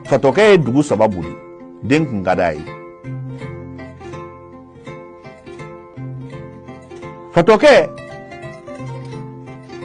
fatɔkɛ ye dugu saba boli den kun ka d'a ye fatɔkɛ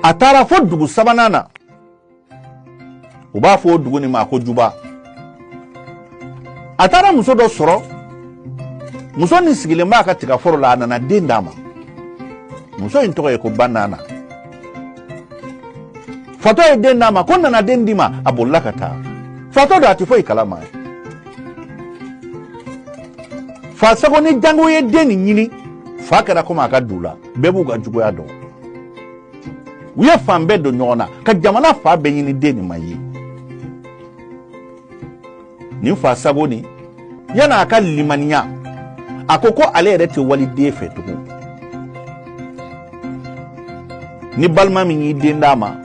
a taara fo dugu sabanan na u b'a fɔ o dugu nin ma ko juba a taara muso dɔ sɔrɔ muso nin sigilen b'a ka tigaforo la a nana den d'a ma muso in tɔgɔ ye ko banana fatɔ ye den d'a ma ko nana den d'i ma a bolila ka taa fatɔ don a tɛ foyi kalama fasago ni jango ye den nin ɲini fa kɛra komi a ka du la bɛɛ b'u ka juguya dɔn u ye fan bɛɛ don ɲɔgɔn na ka jamana fan bɛɛ ɲini den nin ma ye nin fasago nin yana a ka limaniya a ko ko ale yɛrɛ tɛ waliden fɛ tugun ni balima min y'i den d'a ma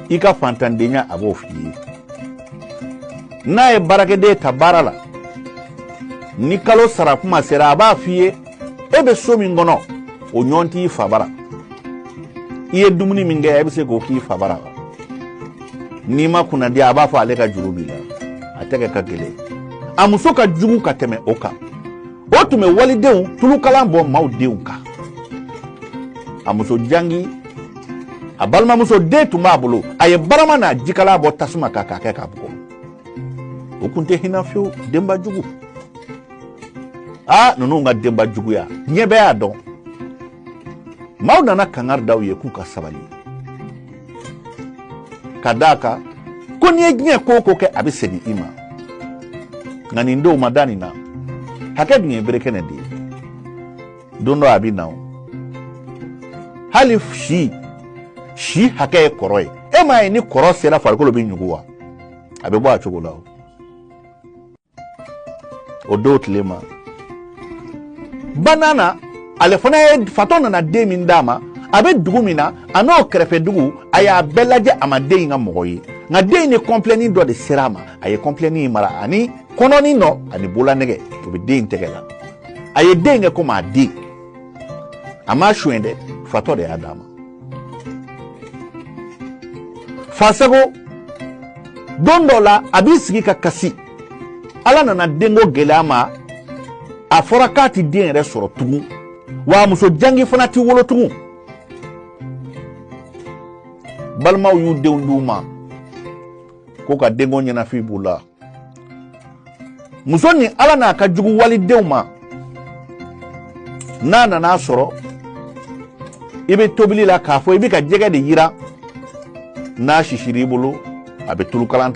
i ka fantandenya a b'o f'i ye n'a ye baarakɛden ta baara la ni kalo sara kuma sera a b'a f'i ye e bɛ so min kɔnɔ o ɲɔgɔn t'i fabara i ye dumuni min kɛ e bɛ se k'o k'i fabara n'i ma kunnadi a b'a fɔ ale ka juru b'i la a tɛgɛ ka gɛlɛn a muso ka jugu ka tɛmɛ o kan o tun bɛ walidenw tulukalan bɔn maaw denw kan a muso jangi a balimamuso den tun b'a bolo a ye barama n'a jikalan bɔ tasuma kan k'a kɛ k'a bugɔ o tun tɛ hinɛ fiyewu denba jugu a ninnu ka denba juguya diɲɛ bɛɛ y'a dɔn maaw nana kangari da u ye k'u ka sabali ka da a kan ko n'i ye diɲɛ ko o ko kɛ a bɛ segin i ma nka nin denw ma da nin na hakɛ dun ye berekɛnɛ de ye don dɔ a bɛ na o hali si si hakɛ ye kɔrɔ ye e m'a ye ni kɔrɔ sera farikolo bɛ ɲugu wa a bɛ bɔ a cogo la o o don tile ma banana ale fana ye fatɔ nana den min d'a ma a bɛ dugu min na a n'o kɛrɛfɛ dugu a y'a bɛɛ lajɛ a ma den in ka mɔgɔ ye nka den in ni kɔnpilɛni dɔ de sera a ma a ye kɔnpilɛni in mara ani kɔnɔnin dɔ ani bolanɛgɛ o bɛ den in tɛgɛ la a ye den kɛ komi a den a m'a suɲɛ dɛ fatɔ de y'a d'a ma fasago don dɔ la a b'i sigi ka kasi ala nana denko gɛlɛya a ma a fɔra k'a tɛ den yɛrɛ sɔrɔ tugun wa muso jangi fana tɛ wolo tugun balimaw y'u denw d'u ma ko ka denko ɲɛnafin b'u la muso ni ala n'a ka jugu walidenw ma n'a nana sɔrɔ i bɛ tobili la k'a fɔ i bɛ ka jɛgɛ de yiran n'a sisira i bolo a bɛ tulukalan